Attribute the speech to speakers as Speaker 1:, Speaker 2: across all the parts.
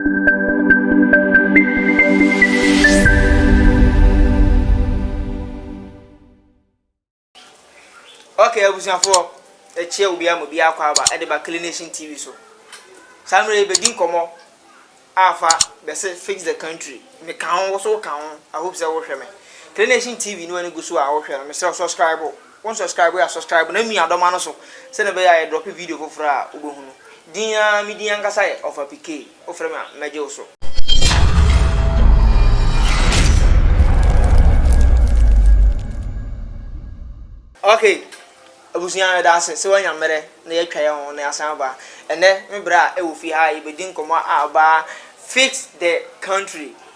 Speaker 1: Okay, abusuafoɔ, ɛkyɛ obi ama obi akɔ aba ɛde ba Kili Nation TV so. Saa mmerɛ yi bɛdi nkɔmɔ afa bɛsɛ fix the country. Me ka ho, wo so ka ho. I hope sɛ wohwɛ me. Kili Nation TV ne wani gu so a wohwɛ no, mesrɛ subscribe. Wo nsɔskraibu a sɔskraibu na mia dɔ ma no so sɛdeɛ ɛbɛyɛ a yɛ drɔpe video foforɔ a wo bɛ hunu. Din aa me din ankasa yɛ Ɔfapi Kay wo frɛ me a mɛ gye wo so. Ok abusua yɛdaase sɛ wanya mmerɛ na yɛatwa yɛ ho na yɛasan aba ɛnnɛ me berɛ a ɛwɔ fie ha a yɛbɛdi nkɔmmɔ a about fix the country.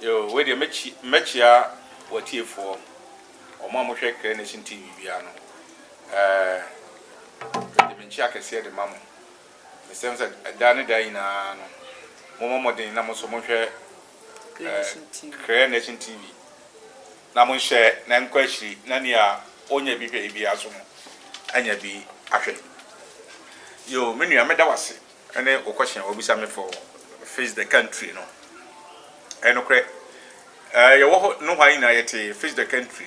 Speaker 2: Yoo wei deɛ mɛkyi mɛkyia watiefoɔ wɔn a mohwɛ Clear Nation TV biara no ɛɛ mede me nkyia kɛseɛ de ma mo mesɛm sɛ ɛda ne da nyinaa no momɔ mmɔden na mo nso monhwɛ ɛɛ Clear Nation TV na monhyɛ na nkɔ akyiri na nea ɔnya bi hwɛ biara so no anya bi ahwɛ yoo me nua meda wase Ɛne wo question a wabisa me for face the country no ɛyɛ nokorɛ. Yɛwɔ hɔ nohoa nyinaa yɛte face the country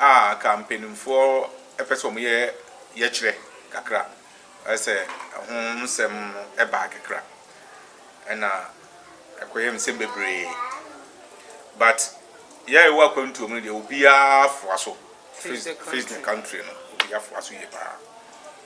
Speaker 2: a anka mpaninfoɔ pɛ sɛ wɔyɛ yɛkyerɛ kakra sɛ ɛho nsɛm no baa kakra ɛna ɛkɔyɛ nsɛm bebree but yɛ a yɛwɔ akwantuo mu no deɛ obiara foa so face the country no obiara foa so yie paa.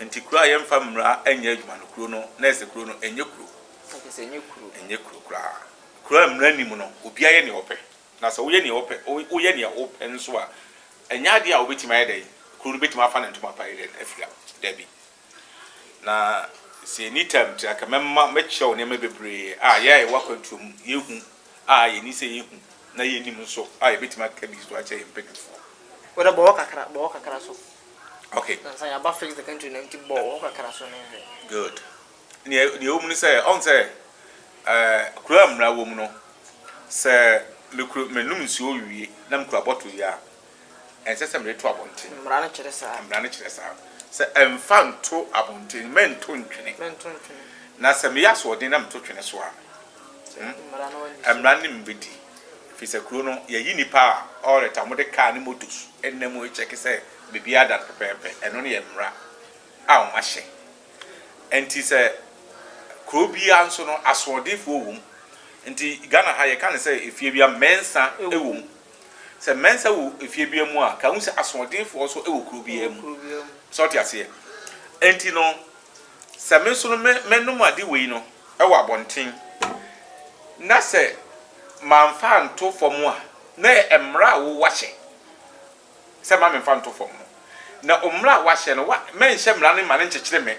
Speaker 1: Nti kuro a
Speaker 2: yɛmfa mmara nyɛ adwuma no kuro no na ɛsɛ kuro no ɛnyɛ kuro. Okay sɛ ɛnyɛ kuro.
Speaker 1: Ɛnyɛ kuro koraa. Kuro a mmara
Speaker 2: nni mu no obiara yɛ nea ɔpɛ na sɛ woyɛ nea ɔpɛ woyɛ nea ɔpɛ nso a ɛnyɛ adeɛ a wobɛtumi ayɛ dɛn kuro no bɛtumi afa ne ntoma pa ayɛ dɛn afira dabi na sɛ ɛni tam tira ka mɛma mɛkyerɛ wo nneɛma bebree a yɛ a yɛwɔ akwantuo mu yɛhu a yɛni sɛ yɛhu na yɛnim nso a yɛbɛtumi aka bi so akyɛ yɛn mpanimfoɔ. Wode bɔwɔ
Speaker 1: kakra bɔwɔ kakra so. Okay. Nansa
Speaker 2: yɛaba fix the
Speaker 1: country no nti bɔ hɔ kakra so ne nhwɛ. Good.
Speaker 2: Nea nea ɛwɔ mu ne sɛ ɔn sɛ ɛɛ kuro a mmara wɔ mu no sɛ mekuro menum nsuo wie na mekura bottle yi a ɛnsɛ sɛ mede to abɔnten. Mmara no kyerɛ saa. Mmara
Speaker 1: no kyerɛ saa. Sɛ
Speaker 2: ɛmfa nto abɔnten mɛnto ntwene. Mɛnto ntwene. Na sɛ meyɛ asoɔden na meto twene so a hmm mmara no nim bɛdi. Ɛfiri sɛ kuro no, yɛyi nnipa a ɔreta wɔn de kaa ne motos nna mu rekyɛke sɛ biribiara da no pɛpɛɛpɛ. Ɛno no yɛ mmara a wɔahyɛ. Ɛnti sɛ kuro biara nso no, asoɔdenfoɔ wɔ mu. Nti Ghana ha yɛka no sɛ efie biara mmɛnsa wɔ mu. Sɛ mmɛnsa wɔ efie biara mu a, ka hu sɛ asoɔdenfoɔ nso wɔ kuro biara mu. Sɛ wote aseɛ? Ɛnti no, sɛ me nso no me menom ade wei no, wɔ abɔnten, na sɛ mamfa anto fam a, na ɛyɛ mmara a woahyɛ sɛ mma memfa nto fam no. Na mmara a woahyɛ no, woa, mɛnhyɛ mmara no mma no nkyekyere me.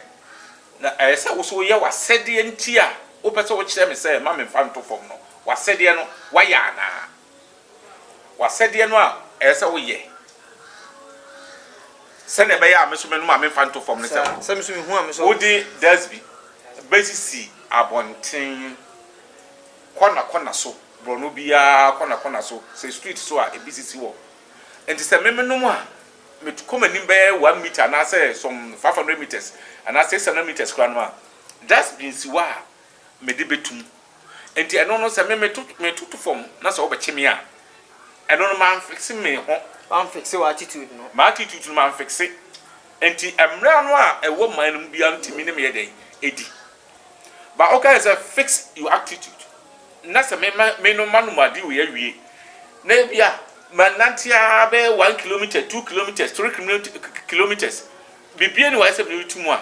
Speaker 2: Na ɛyɛ sɛ wo nso woyɛ w'asɛdeɛ nti a wopɛ sɛ wokyerɛ me sɛ mma memfa nto fam no, w'asɛdeɛ no, woayɛ anaa? W'asɛdeɛ no a ɛyɛ sɛ woyɛ, sɛdeɛ ɛbɛyɛ a me nso mɛnom a memfa nto fam no sɛ Saa, sɛ me nso mehu a me nso. wode
Speaker 1: das bi
Speaker 2: bɛsisi abɔnten kɔna kɔna so, borɔno biara kɔna kɔna so, sɛ street so a ebi sisi hɔ. Enti sɛ me menom a, mekɔ m'anim bɛyɛ one metre anaasɛ some five hundred metres anaa six hundred metres koraa nom a, dustbin si hɔ a mede bɛtu mu. Enti ɛno no, sɛ me meto metoto fam na sɛ wobɛkye me a, ɛno no manfikse me ho. Wamfikse w'attitude
Speaker 1: no. M'attitude no manfikse.
Speaker 2: Enti mmara no a ɛwɔ man no mu biara no tumi ne me yɛ dɛn? Ɛdi. But wokae sɛ fix your attitude na sɛ me ma me no manom adeɛ wei awie na ebia manante ara bɛyɛ one kilometre, two kilometres, three kilometres, biribiara ni wɔ ayɛ sɛ meretu mu a,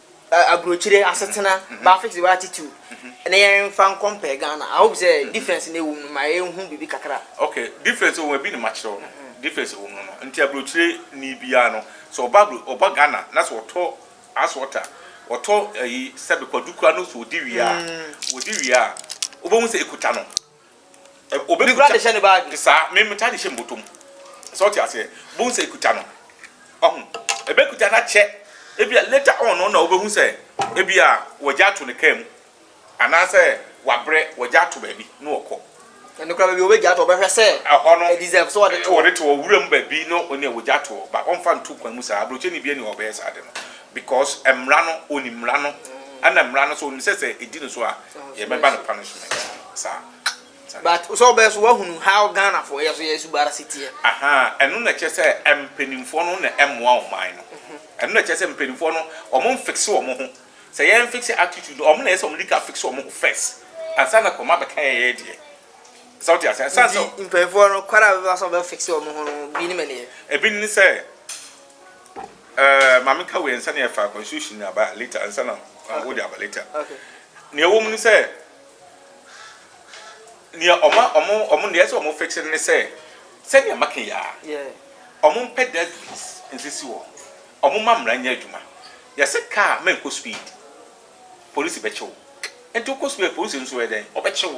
Speaker 1: Aburokyire asetena baa fix wɔ attitude na yɛn nfa nkɔ mpɛ Ghana I hope sɛ difference na ɛwom no ma yɛn hu biribi kakra. Ok difference
Speaker 2: ɛwom ɛbi na ma kyerɛw no difference ɛwom no no nti aburokyire ni biara no sɛ ɔba aburo ɔba Ghana na sɛ ɔtɔ ice water ɔtɔ ɛyi sɛbi kwadu kura no sɛ ɔdi wie a ɔdi wie a wobɛhu sɛ ɛkuta no. Obi kura de hyɛ ne baagi.
Speaker 1: Te saa, me metaa de hyɛ
Speaker 2: mbotom. Sɛ ɔte aseɛ, bohu sɛ ekuta no. Ɔho, ebekuta no akyɛ. Ebia later on no na wobehu sɛ ebia wɔagya ato ne car mu anaasɛ wabrɛ, wɔagya ato baabi na ɔkɔ. Ɛno koraa baabi a
Speaker 1: wɔbɛgya ato, ɔbɛhwɛ sɛ ɛhɔ no ɛdeserve sɛ wɔde
Speaker 2: to hɔ. Wɔde
Speaker 1: to hɔ, wuram baabi
Speaker 2: no nea wɔgya ato hɔ, but ɔmfa nto kwan mu saa. Aburokyeni biara nni hɔ a ɔbɛyɛ saa ade no. Because mmra no onim mmra no ɛna mmra no so onim sɛ sɛ edi no so a yɛ bɛba no punishment saa. But
Speaker 1: sɛ ɔbɛyɛ so wahunu how Ghana foɔ yɛ so yɛ suba ara si teɛ. Ahaa ɛno na ɛkyerɛ
Speaker 2: sɛ mpaninfoɔ no na ɛmmoa ɔman no ɛno na ɛkyerɛ sɛ mpaninfoɔ no ɔmo nfix ɔmo ho sɛ yɛn fix attitude no ɔmo na ɛyɛ sɛ ɔmo di kan fix ɔmo ho first ansa na kɔma bɛka yɛn yɛyɛ deɛ sɛ wote aseɛ ɛsan sɛ. Nti mpaninfoɔ no kwan a
Speaker 1: bɛbɛfa so bɛ fix ɔmo ho no bi ne mɛneɛ. Ebi ne sɛ.
Speaker 2: Ɛɛ maame ka wei nsa na yɛfa constitution na aba later nsa na wo de aba later. Nea ɛwɔ
Speaker 1: mu ne sɛ
Speaker 2: nea ɔma ɔmo ɔmo nea ɛsɛ ɔmo fix ne sɛ sɛnea maka yi a ɔmo mpɛ dustbins nsisi wɔ ɔmo ma mmara nyɛ adwuma. Yɛsɛ kaa mɛnkɔ speed polisi bɛkye wo nti wokɔ speed polisi nso yɛ dɛn ɔbɛkye wo.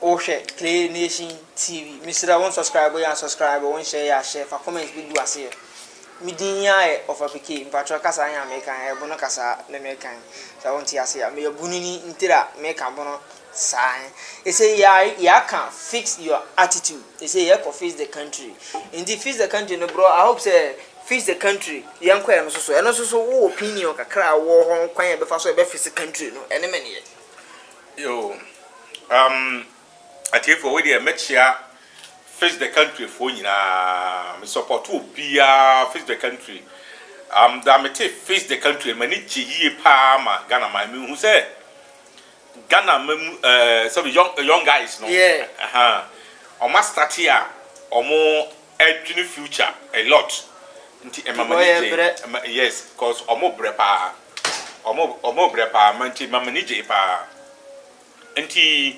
Speaker 1: Wohwɛ Play Nation TV. Mesrɛ wo subscribe yɛ a subscribe, wo nhyɛ yɛ a hyɛ, fa comment bi gu aseɛ. Me din yi ara yɛ Ɔfapikee, mpatwɔ kasa yɛ a meka yɛ bono kasa ne meka yi. Sɛ wonte aseɛ a, meyɛ bono ni ntir a meka bono saa yi. Ɛsɛ yɛ a yɛaka fix your attitude, ɛsɛ yɛkɔ fix the country. Nti fix the country no bro, I hope sɛ fix the country yɛnkɔ ɛno nso so. Ɛno nso so wo opinion kakra a wowɔ hɔ kwan a yɛbɛfa so yɛbɛ fix country no ɛne me neɛ.
Speaker 2: Yoo um atiefoɔ wei deɛ mɛkyea face the country foɔ nyinaa me support obiara face the country um, da mete face the country m'ani gye yie paa ma Ghana man mehu sɛ Ghana ma mu uh, eh, sɛbi young, eh, young guys no yeah. uh -huh. ɔma start a ɔmo adwene future a lot nti ɛma m'ani gye yes cause ɔmo brɛ paa Wɔn wɔn brɛ paa ma nti ma m'ani gye paa nti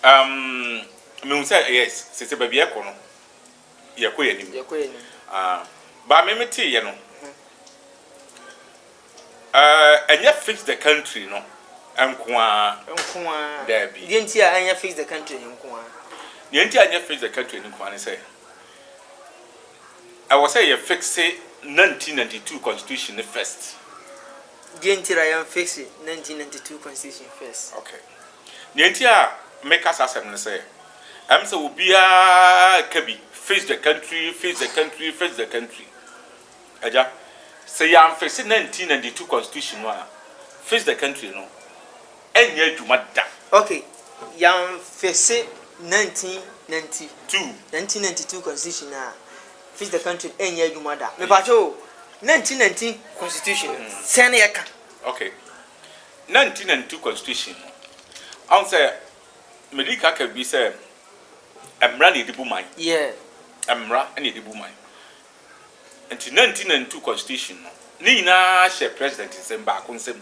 Speaker 2: um, mehu sɛ yes sese baabi ɛkɔ no yɛkɔ yɛ anim uh, ba me me tee yɛ no uh, ɛnyɛ fix the country no nko ara nko ara daabi deɛ nti a ɛnyɛ
Speaker 1: fix the country nko ara deɛ nti a ɛnyɛ
Speaker 2: fix the country nko ara ne sɛ Ɛwɔ sɛ yɛ fixe 1992 constitution no first. Deɛ
Speaker 1: nti a yɛn fixe 1992 constitution first. Ok.
Speaker 2: Deɛ nti a me ka saa asɛm no sɛ, ɛm sɛ obiara ka bi, fix the country, fix the country, fix the country. Agya, sɛ yɛn fixe 1992 constitution no a, fix the country no. ɛnyɛ adwuma da. Ok,
Speaker 1: yɛamfese 1990, 1992 constitution no a, fix the country no ɛnyɛ adwuma da. Mepakyɛ o, 1990 constitution no, sɛn na yɛka? Ok, 1992
Speaker 2: constitution no, ɔhu sɛ medi ka ka bi sɛ mmara na yɛde bu man. Yeah. Mmara na yɛde bu man. Nti 1992 constitution no, ne nyinaa hyɛ president nsam, baako nsam.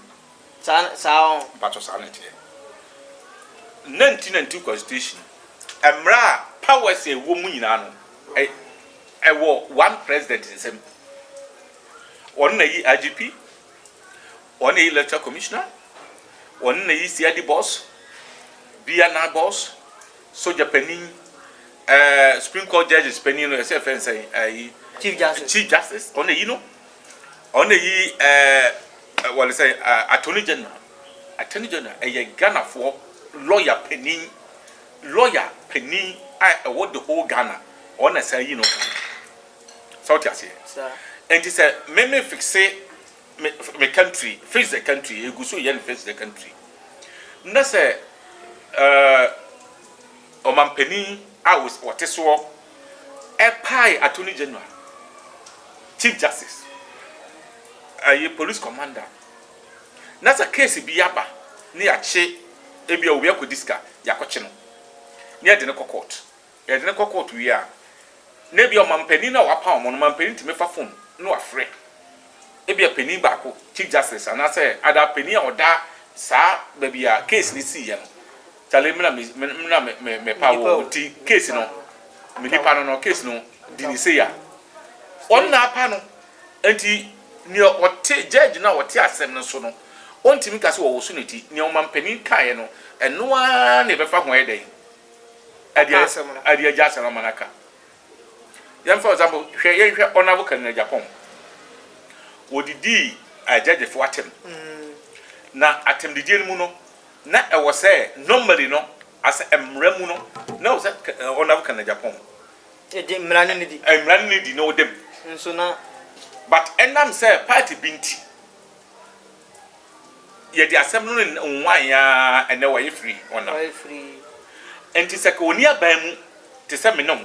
Speaker 2: Saa ne, saa ɔn.
Speaker 1: Mpakyɛw saa na ɛteɛ.
Speaker 2: Nanti nanti constitution mmra a powers a ɛwɔ mu nyinaa no ɛ ɛwɔ one president nsam. Ɔno na ɛyi IGP, ɔno na ɛyi electoral commissioner, ɔno na ɛyi CID boss, BNI boss, soja panin, ɛɛ supreme court judges panin no yɛsɛ yɛfrɛ no sɛn ɛyi. Chief
Speaker 1: justice. Chief justice ɔno na ɛyi no.
Speaker 2: Ɔno na ɛyi ɛɛ wɔle sɛ attorney general attorney general ɛyɛ Ghanafoɔ lawyer panin lawyer panin a ɛwɔ the whole Ghana ɔno na saa yi no sɛ wote aseɛ ɛnti sɛ me me fixe me, me country fix the country ɛgu so yɛ no fix the country na sɛ ɛɛ. Ɔmanpanin a ɔte soɔ pae Attorney General, Chief Justice, ɛyi Police Commander na sɛ case bi aba ne yɛakye ebi a obi akɔdi sika yɛakɔkye no ne yɛde no kɔ court. Yɛde no kɔ court wie a na ebi a ɔmanpanin no a wɔapaw wɔn no ɔmanpanin tumi fa phone na wafrɛ ebi a panin baako, Chief Justice anaasɛ ada panin a ɔda saa baabi a case no siiɛ no Charlie me na me me me na me me me pa wo nti case no me nipa no no case no di ni sei a ɔno na apa no nti nea ɔte judge no a ɔte asɛm no so no ɔntumi nka sɛ ɔwoso ne ti nea ɔmampanin kaeɛ no ɛno ara na ɛbɛfa ho ayɛ dɛn ɛde Ɔka asɛm no. ɛde agya asɛm no ama no aka yɛmfa for example hwɛ yɛnhwɛ honourable Cardinal Agyapong wɔdidii eh, judgefoɔ atɛm na atɛmdidie no mu no Na ɛwɔ sɛ normally no as a mmara mu no na ɛwɔ sɛ ɔnam Canada pɔn. Ɛdi mmara
Speaker 1: no nidi. Mmara no nidi na ɔda mu.
Speaker 2: Nso na.
Speaker 1: But
Speaker 2: ɛnam sɛ party bi nti yɛde asɛm no nwan ya ɛnɛ wayɛ free ɔnam. Wayɛ free.
Speaker 1: Nti sɛ
Speaker 2: ka ɔni aban mu te sɛ me ne wo.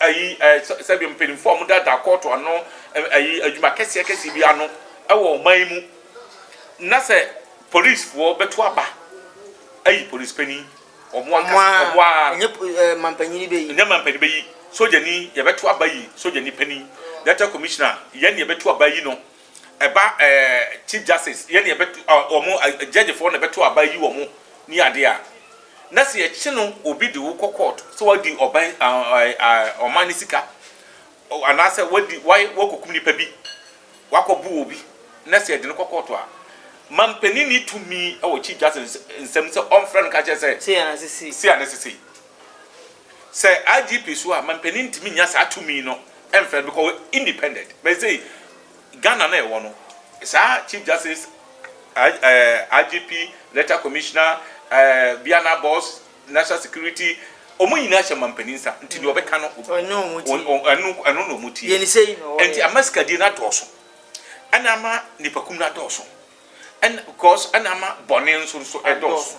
Speaker 2: ayi eh, sɛ- sɛdeɛ mpanimfoɔ a wɔdaadaa kɔɔto ano eh, ayi adwuma kɛseɛ kɛseɛ bi ano wɔ ɔman yi mu na sɛ polisifoɔ bɛto aba ayi polisi panin wɔn Ɔmo ankasa a, wɔn ara ɛnyɛ po-
Speaker 1: eh, mampanyini bɛyi. nyɛ ma mpanin bɛyi sogyani
Speaker 2: yɛbɛto aba yi sogyani panin delta commissioner yɛn ne yɛbɛto aba yi no ɛba ɛɛ chief justice yɛ na yɛbɛto ɔ wɔn ɛ gyɛgyefoɔ na ɛbɛto aba yi wɔn ne adeɛ a na sɛ yɛkye no obi de wo kɔ court sɛ wadi ɔban ɛ ɛ ɛ ɔman ne sika ɔ anaasɛ wadi wayɛ wakɔkum nipa bi wakɔbo obi na sɛ yɛde no kɔ court a manpanin ni tumi wɔ chief justice nsam sɛ ɔmfrɛ no nka kyerɛ sɛ Sei a na ɛsɛ sei. sei a na ɛsɛ sei. Sɛ IGP so a mampanin ntumi nnya saa tumi no mfrɛ no because ɔyɛ independent but sei Ghana no a yɛwɔ no saa Chief Justice, IGP, Letter Commissioner, Biana Boss, National Security wɔn nyinaa hyɛ mampanin nsa nti deɛ ɔbɛka no ɛno na wɔn tie nti
Speaker 1: ama sikadie no
Speaker 2: adɔɔso ɛna ama nipakum no adɔɔso. Ɛna because ɛna ama bɔne nso nso ɛdɔɔso.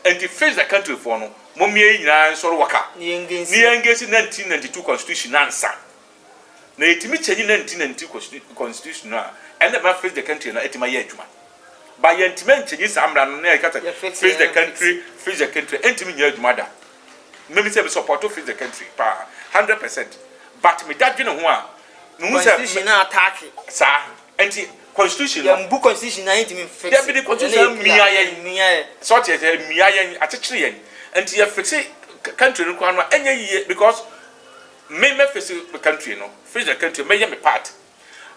Speaker 2: Ɛnti face the country foɔ no momia yɛ nyinaa nsɔre waka ne yɛ ngesi 1992 constitution no ansa na yɛtumi kyɛnyi 1992 constitution no a ɛna ɛbɛma face the country no atumi ayɛ adwuma ba yɛntumi ankyɛnyi saa mmara no na yɛka sɛ face the country face the country ɛntumi nyɛ adwuma da mmemi sɛ me supporto face the country paa 100% but me dadwene ho a mehu sɛ constitution no attack
Speaker 1: saa.
Speaker 2: Ɛnti constitution no. Yɛn bu constitution na
Speaker 1: yɛn ntumi nfixe. Dabi de constitution amia
Speaker 2: yɛn. Amia yɛn. Sɛ ɔte yɛn sɛ amia yɛn akyekyere yɛn. Ɛnti yɛ fixe country no koraa no a ɛnyɛ yie because me mɛ fixe me country no fixe the country mɛ yɛ me part.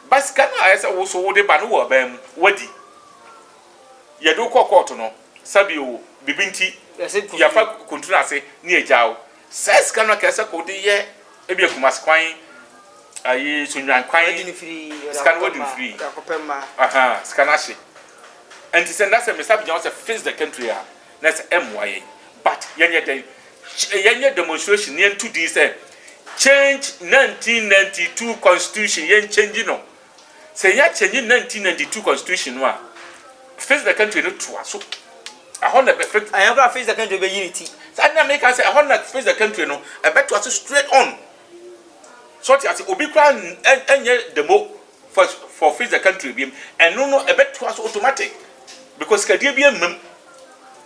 Speaker 2: Ba sika no a ɛyɛ sɛ woso wode ba no wɔ aban mu wadi. Yɛde wo kɔ court no sɛbi o bibi nti yɛfa kuntunu ase ne yɛgyaa wo Saa sika no kɛsɛ kɔ de yɛ ebi akumasi kwan ayi sunyan kwan adi ne firi sika
Speaker 1: no wadi ne firi
Speaker 2: akɔpɛ mma aha
Speaker 1: sika no ahye
Speaker 2: nti sɛ ndasɛ mesa bigyan sɛ fix the country a na sɛ ɛmmoa yɛn but yɛnyɛ dɛn yɛnyɛ demonstration yɛn to din sɛ change 1992 constitution yɛn change no Sɛ yɛ change nineteen ninety two constitution no a, face the country no to aso. Ɛhɔ na ɛbɛ fit. Ɛyɛ kora face the country bɛ yi
Speaker 1: ne ti. Saa na meka sɛ
Speaker 2: ɛhɔ na face the country no ɛbɛ to aso straight on. So ɔte ase obi kora ɛnyɛ demo for for face the country bi mu. Ɛno no ɛbɛ to aso automatic
Speaker 1: because
Speaker 2: kadie bi
Speaker 1: ɛmam.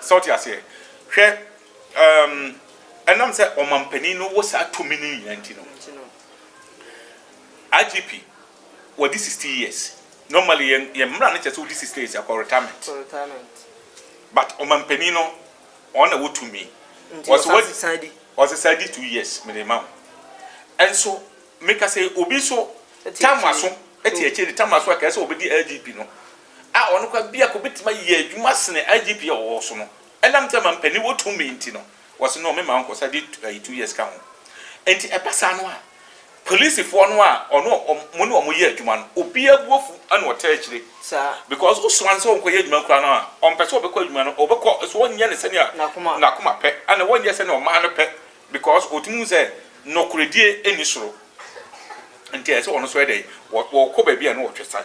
Speaker 2: Sɛ wote aseɛ? Hwɛ, ɛɛm, ɛnam sɛ ɔmampanin no wɔ saa tumi no nyinaa nti no, IGP, wadi sixty years. Normally, yɛn, yɛn mmara no kyerɛ sɛ wodi sixty years a, kɔ retirement. Kɔ retirement. But ɔmampanin no, ɔno na wɔ tumi. Nti Ɔse ɔsan wadi, sesan di. ɔse saa di two years, mede ma wo. Ɛnso, meka sɛ obi nso, Ɛte tam akyire. aso, ɛte akyire de tam aso a, kɛɛ sɛ ɔbɛdi IGP no, a ɔno koraa biako betumi ayɛ adwuma sene IGP a ɔwɔ so no, ɛnam sɛ mampanin wɔ tumi nti no, wɔse no mema ɔnkɔsa de ayi two years ka ho. Enti ɛba saa no a, polisifoɔ no a ɔno ɔmo ne ɔmo yɛ adwuma no, obiara bo afu ɛna ɔtaa akyire. Saa. Because wosoma no sɛ ɔnkɔyɛ adwuma koraa no a, ɔmpɛ sɛ ɔbɛkɔ adwuma no, ɔbɛkɔ nso ɔnyɛ no sɛnea N'akoma. n'akoma pɛ, ɛna ɔnyɛ sɛnea ɔman no pɛ, because ɔtumi hu sɛ nɔkoredie nni soro. Nti ɛsɛ sɛ ɔno nso yɛ dɛn? Ɔ, ɔkɔ baabi a na ɔtwe san.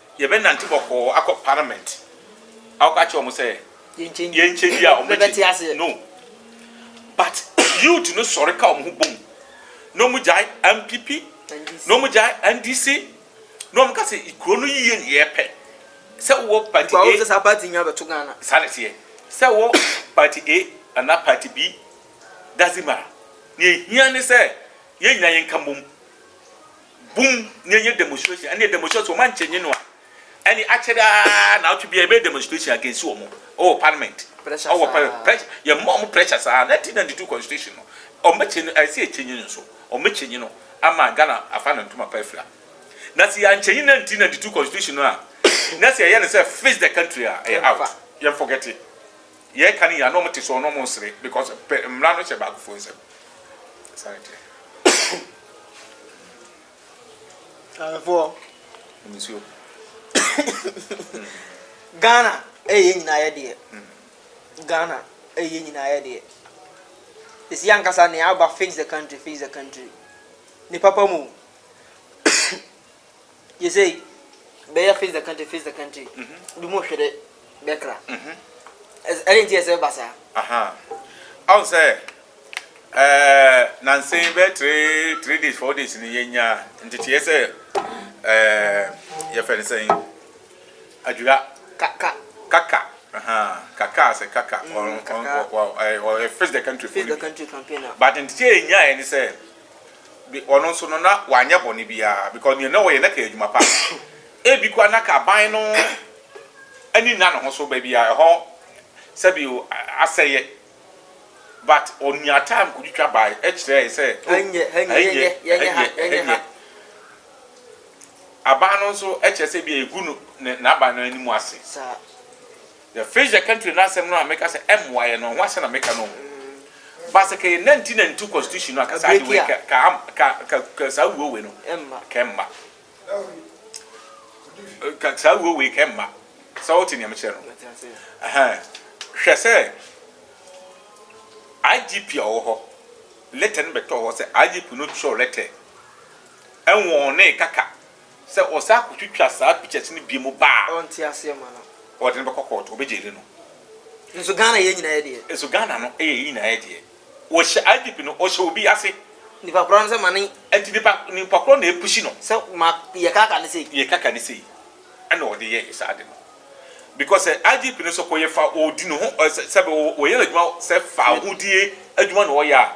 Speaker 2: Yɛbɛnante bɔkɔɔ akɔ parliament akɔka akyerɛ wɔn sɛ yɛnkyɛ wie a wɔn bɛte aseɛ no but youth no sɔre ka wɔn ho bom na wɔn gyae MPP na wɔn gyae NDC na wɔn ka sɛ kuro no yie na yɛpɛ sɛ wɔ party A sɛ saa party nyinaa bɛto
Speaker 1: Ghana saa na ɛteɛ sɛ
Speaker 2: wɔ party A anaa party B doesn't matter nea ehia ne sɛ yɛn nyinaa yɛnka mmom Bum na yɛnyɛ demonstration ɛne demonstration so wɔn ankyɛ nye no a ɛne akyɛde aa na ɔtwe bia yɛbɛyɛ demonstration against wɔn ɔwɔ parliament ɔwɔ parliament
Speaker 1: pressure yɛn mma
Speaker 2: wɔn pressure saa 1992 constitution no wɔn bɛkyɛ no ɛsɛ yɛkyɛ nye no nso wɔn bɛkyɛ nye no ama Ghana afa no ntoma pa afira na sɛ yɛankyɛ nye 1992 constitution no a na sɛ yɛyɛ no sɛ fix the country a ɛyɛ out yɛn forget it. Yɛ ka ne yia na ɔmo te soɔ na ɔmo nsere because pɛ mmra no hyɛ baakofoɔ nsam saa ne teɛ.
Speaker 1: Mamefoɔ. Nom nsuo. Ghana ɛyɛ yɛn nyinaa yɛ deɛ. Ghana ɛyɛ yɛn nyinaa yɛ deɛ. Ɛsi ankasa nea aba fix the country fix the country. Ne papa mu. Yesei bɛyɛ face the country face the country bi mu hwere bɛkra. Ɛdɛn nti ɛsɛ ba saa? Aha.
Speaker 2: Ahu sɛ ɛɛ nansa yi bɛyɛ three three days four days ni yɛnya nteteɛ sɛ ɛɛ yɛfɛ ne sɛn adwira. Kaka.
Speaker 1: Kaka. Aha. Kaka
Speaker 2: sɛ kaka. Mm, kaka. Ɔ ɔ ɔ ɔ face the country. Face the country campaign. But
Speaker 1: nteteɛ yɛnya
Speaker 2: yɛ ne sɛ. de ɔno nso no na wanyɛ bɔne biara because nea na ɔyɛ na kɛyɛ adwuma pa ebi koraa na ka ban no ani nna ne ho so baabi a ɛhɔ sɛbi o asɛyɛ but ɔnya time kotwitwa bae ɛkyerɛɛ sɛ oh ɛnyɛ ɛnyɛ ɛnyɛ ɛnyɛ aban no nso ɛkyerɛ sɛ bi egu no n'aban no anim ase. The fish the country n'asɛm no a meka sɛ ɛmmoa yɛn no ɛho asɛm na meka no o. But sɛ ka yɛ nineteen ninety two constitution no a ka saa de wei ka ka ka ka ka saa wuo wei no ka ɛmma. Ka saa wuo wei ka ɛmma. Sɛ wote nea mekyerɛ no. Ɛhɛn. Hwɛ sɛ IGP a ɔwɔ hɔ letter no bɛtɔɔ hɔ sɛ IGP no twerɛ letter ɛnwɔɔnee kaka Sɛ wɔsan kotwitwa saa pictures no biom ba a. Ɔnte aseɛ ma
Speaker 1: no. Wɔde no bɛkɔ court, wɔbɛ
Speaker 2: jaili no. Nso Ghana
Speaker 1: yɛn nyinaa yɛ deɛ. Nso Ghana no yɛ yɛn
Speaker 2: nyinaa yɛ deɛ. Wɔhyɛ IGP no, wɔhyɛ obi ase. Nipa korɔ no sɛ ma
Speaker 1: ne. Nti nipa nipa
Speaker 2: korɔ na ɛpushi no. Sɛ ma yɛ kaka
Speaker 1: no sei. Yɛ kaka no sei. Ɛna wɔde yɛ
Speaker 2: yɛ saa ade no. Because sɛ IGP no sɛ kɔ yɛ fa ɔdi ne ho ɛ sɛ sɛbi ɔyɛ n'adwuma sɛ fahodie adwuma na ɔyɛ a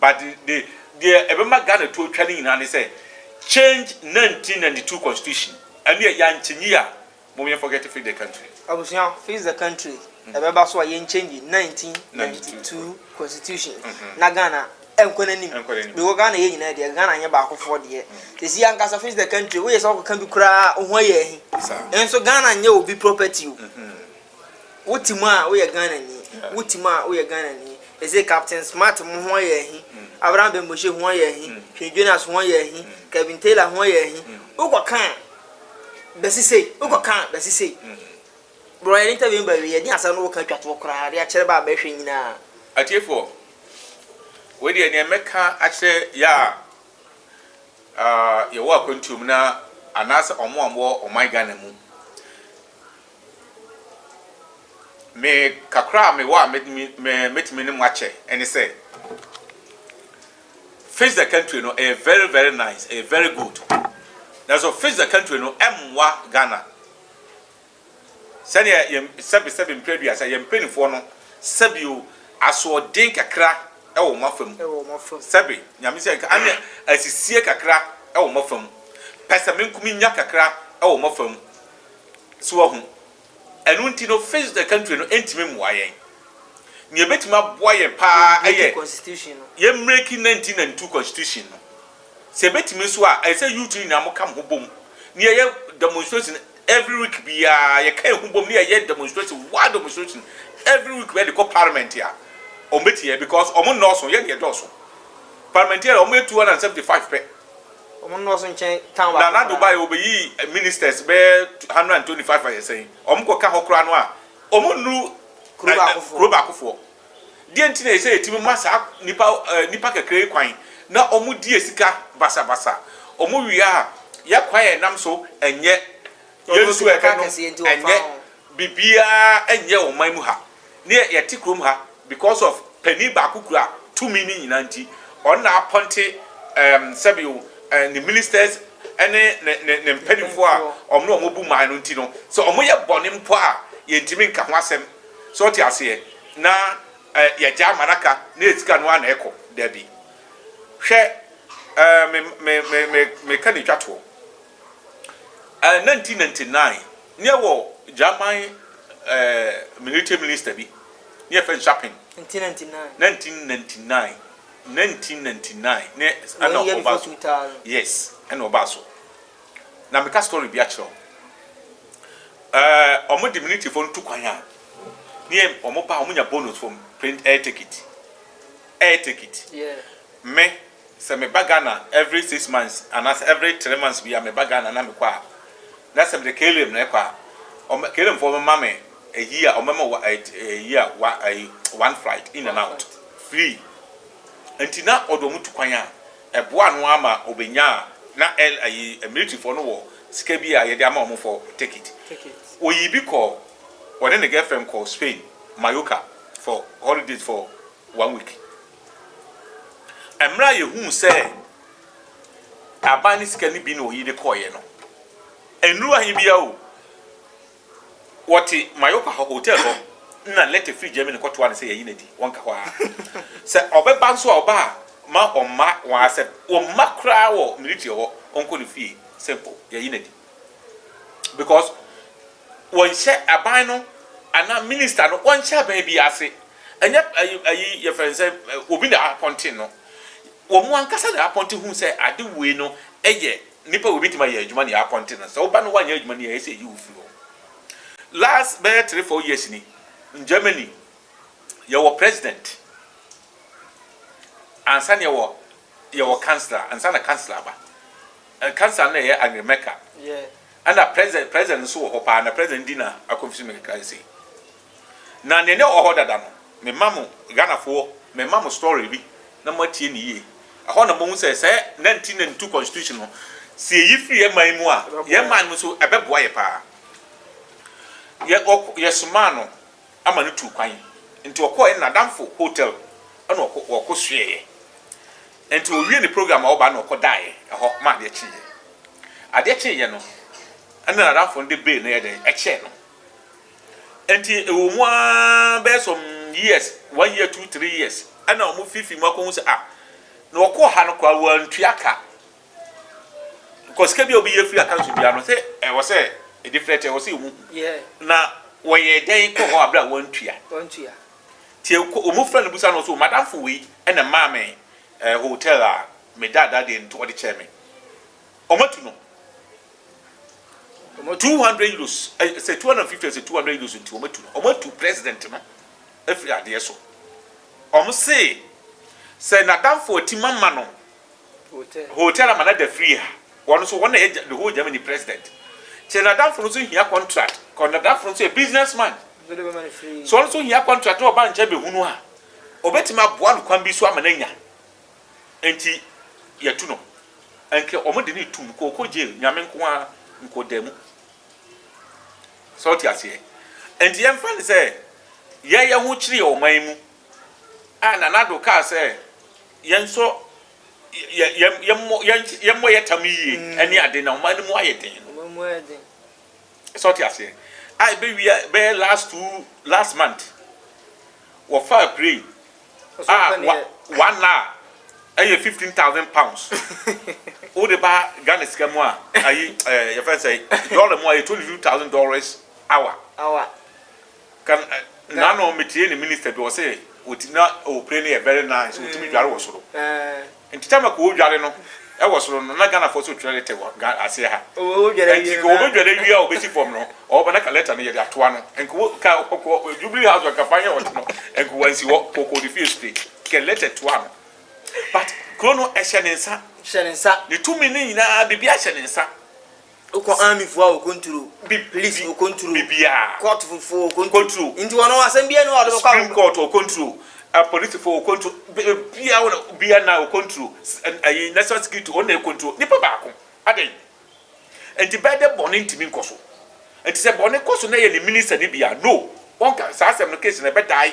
Speaker 2: But the the deɛ ɛbɛma Ghana to atwa no nyinaa ne sɛ change 1992 constitution ɛno yɛ yɛankyɛ nyi a mom yɛn forget fix the country. Abusua fix the
Speaker 1: country ɛbɛba so a yɛn change 1992 constitution na Ghana ɛnkɔ n'anim because Ghana yɛn nyinaa deɛ Ghana nyɛ baakofoɔ deɛ sɛsi ankasa fix the country woyɛ sɛ ɔkɔka bi koraa a ho ayɛ ahi nso Ghana nyɛ obi property o. Wo te mu a wo yɛ Ghana ni Wo te mu a wo yɛ Ghana ni They say Captain Smart mo ho yɛ ahi Abraham Bemboshe ho yɛ ahi Hwee Jonas ho yɛ ahi Kevin Taylor ho yɛ ahi Wo kɔ ka a bɛsi sei Wo kɔ ka a bɛsi sei Bro yɛ ne interview ba wie ɛdeɛn asɛm no wo ka twa toɔ koraa de akyerɛ ba a bɛhwɛ nyinaa. Atiefoɔ,
Speaker 2: wei deɛ neɛ mɛka akyerɛ yɛ a yɛwɔ akwantuo mu na anaasɛ ɔmo a ɔmo wɔ ɔman Ghana mu. Me kakra a mewɔ a mɛtumi mɛ mɛtumi ne mo akyɛ ɛne sɛ Fix the Country no ɛyɛ very very nice ɛyɛ very good nanso Fix the Country no ɛmmoa Ghana sɛdeɛ yɛn sɛbi sɛbi mpere aduasa yɛn mpanimfoɔ no sɛbi o asoɔden kakra ɛwɔ wɔn afa mu sɛbi nyame sɛ nka ane asisie kakra ɛwɔ wɔn afa mu pɛsɛmenkominya kakra ɛwɔ wɔn afa mu So wahu? Ɛno nti no, Fixed the Country no ntumi mmoa yɛn. Nea ebetumi aboa yɛn paa yɛ
Speaker 1: yɛmmreki
Speaker 2: 1992 Constitution no. Sɛ ebetumi nso a, ɛsɛ sɛ youth no nyinaa wɔka wɔn ho bom na yɛyɛ demonstration every week biara. Yɛka yɛn ho bom na yɛyɛ demonstration, wild demonstration every week bɛyɛ de kɔ parliament a, wɔbɛtie yɛn because wɔn nnɔɔso, yɛn na yɛdɔɔso. Parliamentarian, wɔyɛ 275 pɛ. Ɔmo nnɔɔso
Speaker 1: nkyɛn town baako koraa. Nana Dubai obeyi
Speaker 2: ministers bɛyɛ hundred and twenty five ayɛ sɛn? Ɔmo kɔ ka hɔ koraa no a ɔmo nnuru kuro baako foɔ. Deɛ nti na ɛsɛ yɛtumi ma saa nipa nipa kakra yi kwan na ɔmo di yɛ sika basabasa. Ɔmo wie a yɛ kwan a yɛnam so nyɛ Yɛn nso yɛka no ɛnyɛ biribiara nyɛ wɔ man mu ha ne yɛte kurom ha because of panin baako kura tumi no nyinaa nti ɔno na apɔnte ɛɛm sɛbi o ɛɛ ne ministers ɛne ne ne ne mpaninfoɔ a wɔn na wɔn bu man no nti no sɛ wɔn yɛ bɔne mpo a yɛntumi nka ho asɛm sɛ ɔte aseɛ na ɛɛ yɛgya ama n'aka na yɛ sika no ara na ɛkɔ dabi hwɛ ɛɛ me me me me meka na etwa toɔ. Ɛɛ nineteen ninety nine ne yɛ wɔ German ɛɛ military minister bi ne yɛ fɛ no Shaping. Nineteen ninety nine. Nineteen ninety nine nineteen ninety nine ne ɛna ɔba so yes ɛna ɔba so na meka story bi akyerɛ wo ɛɛ ɔmo de military fɔ no tu kwan a ne yɛ ɔmo ba ɔmo nya bonus from plane air ticket. Air ticket
Speaker 1: me
Speaker 2: sɛ me ba Ghana every six months anaasɛ every three months biaa me ba Ghana na me kɔ a na sɛ mede KLM na ɛkɔ a ɔmɛ KLM foɔ ɔmɛ ma me a year ɔmɛ ma wa eh, eh, year wa eh, one flight in and out free nti na ɔde ɔmo tu kwan a ɛboa no ama ɔbɛnya a na ɛl ayi eh, military foɔ no wɔ sika bi a yɛde ama ɔmo fɔ ticket oyi bi kɔ ɔne ne girlfriend kɔ Spain Mallorca for holidays for one week. Mmerɛ a yɛhuu sɛ aban ne sika no bi na ɔyi de kɔeɛ no, nnuru ahe biara o, wɔte Mallorca hɔ, hotel hɔ, na letter firi Germany kɔtoa no sɛ yɛnye no adi, wɔnka hɔ ara. Sɛ ɔbɛba nso a, ɔba a, mma ɔmma wɔn asɛm, wɔmma koraa wɔ military hɔ, ɔnkɔ ne fie, simple, yɛnye no adi. because wɔnhyɛ aban no anaa minister no wɔnhyɛ aban bi ase ɛnyɛ ayi ayi yɛfrɛ no sɛ obi na apɔnten no wɔn ankasa na apɔnten hu sɛ ade wei no ɛyɛ nipa wei betumi ayɛ adwuma na apɔnten no sɛ ɔba no wanyɛ adwuma no yɛ ɛsɛ yi ofiri hɔ last bɛyɛ three four years ni in Germany yɛwɔ president ansa na yɛwɔ yɛwɔ councillor ansa na councillor ba. Nkasa no yɛ Angry Mecca
Speaker 1: ɛna president
Speaker 2: president nso wɔ hɔ paa na president di na akɔmfisi me kra sei na nea ne wɔ hɔ dada no me ma mo Ghanafoɔ me ma mo story bi na mo atie ne yie ɛhɔ na mo hu sɛ sɛ 1992 constitution no sɛ yɛyi firi yɛ man mu a yɛ man mu nso ɛbɛboa yɛ paa yɛ ɔkɔ yɛ somaa no ama no tuu kwan nti ɔkɔɔ yɛ nadamfo hotel ɛna ɔkɔ ɔkɔ suɛɛ Enti ɔwiee ne program a ɔbaeɛ na ɔkɔdaeɛ hɔ ma adeɛ kyeeɛ. Adeɛ kyeeɛ no, ɛnna n'adamfo no de bill no yɛɛ dɛn? Ɛkyɛɛ no. Enti ɛwɔ mu ara bɛyɛ some years, one year, two, three years, ɛnna wɔfiifii mu akɔhu sɛ, ah, na ɔkɔɔ ha no koraa wantua ka. Because sika bi a obi yɛ firi account so biara no, sɛ ɛwɔ sɛ ɛdifirɛte, ɛwɔ sɛ ɛwɔ mu. Yeah. Na wɔyɛɛ dɛn kɔɔ hɔ a berɛ a wantua? Wantua. Nti wɔn frɛ no bisa no so, m'adamfo wei na ɛmaa me eh, hotel a meda ada deɛ nti ɔde kyɛɛ me. Wɔn atu no two hundred euros, eh, sɛ two hundred and fifty sɛ two hundred euros nti wɔn atu no. Wɔn atu president no afiri adeɛ so. Wɔn se sɛ n'adamfo atim ama no Hotel ama no ada free ha wɔn nso wɔn na yɛ the whole Germany president kyɛ nadamfo no nso hia contract kɔ nadamfo no nso yɛ business man so wɔn nso hia contract na ɔba nkyɛn bɛhunu a ɔbɛtumi aboa no kwan bi so ama no anya nti yɛtu no ɛnkɛ wɔn de ne tum kɔkɔ jail nyame nko a nkɔ da mu sɛ ɔte aseɛ nti yɛmfa no sɛ yɛyɛ ho kyerɛ ɔman mu a nanado kaa sɛ Yɛnsɔ yɛ yɛ yɛmmɔ yɛn yɛmmɔ yɛ tam yie ɛne ade na ɔman no mu ayɛ den no. Ɔman mu ayɛ den. Sɛ ɔte aseɛ a ɛbɛwia bɛyɛ last two last month wɔfaa plane a wa one na ɛyɛ fifteen thousand pounds wode ba Ghana sika mu a ayi ɛɛ yɛfɛn sɛ dollar mu a ɛyɛ twenty two thousand dollars hour. Hour. Kan na no me tie ne minister bi ɔse ɔti na ɔpire no yɛ very nice ɔtumi dware wɔ soro nti time a ka ɔdware no wɔ soro no na Ghana foɔ so twerɛ letter wɔ aseɛ ha nti ka ɔbɛdware awie a ɔbɛsi fam no ɔba na ka letter no yɛde atoa no nka ka ɔkɔ Jubilee house nka fa yɛ ɔte no nka wansi hɔ ka ɔkɔ ne fie straight ka letter toa no but kuro no ɛhyɛ ne nsa ne tumi no nyinaa biribi ahyɛ ne nsa. Wokɔ
Speaker 1: army foɔ a okonturo. Bib police okonturo. Bibiaa. Court foɔ okonturo. Konturo. Nti wɔn asɛm biara ni hɔ a ɔde bɛkɔ. Supreme court okonturo.
Speaker 2: Police foɔ okonturo. Bibiaa wɔn bibiaa na okonturo. Ɛyi national security wɔn na ekonturo. Nipa baako. Adɛn. Nti bɛɛ dɛ bɔne ntumi nkɔ so. Nti sɛ bɔne kɔ so na ɛyɛ ne minister no bi a no wɔn ka saa asɛm no case no ɛbɛ die.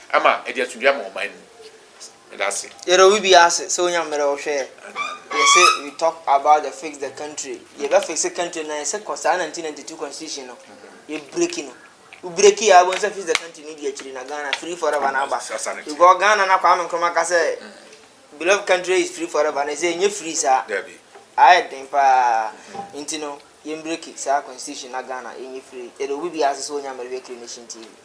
Speaker 2: Ama ɛde asomdwie ama ɔman mu. Meda ase. Yɛda obi biara ase
Speaker 1: sɛ onya mmerɛ ɔhwɛ yɛn. Yɛse we talk about the fix the country, yɛbɛ fixe country no na yɛse kɔ saa 1992 constitution no yɛ breaki no, wo breaki yɛ a wobɛhu sɛ fix the country no di akyiri na Ghana free forever no aba because Ghana no a Kwame Nkrumah ka sɛ beloved country is free forever no ɛsɛ ɛnyɛ free saa ayɛ
Speaker 2: den paa
Speaker 1: nti no yɛn breaki saa constitution na Ghana ɛnyɛ free. Yɛda obi biara ase sɛ onya mmerɛ hwɛ Kiri Nation TV.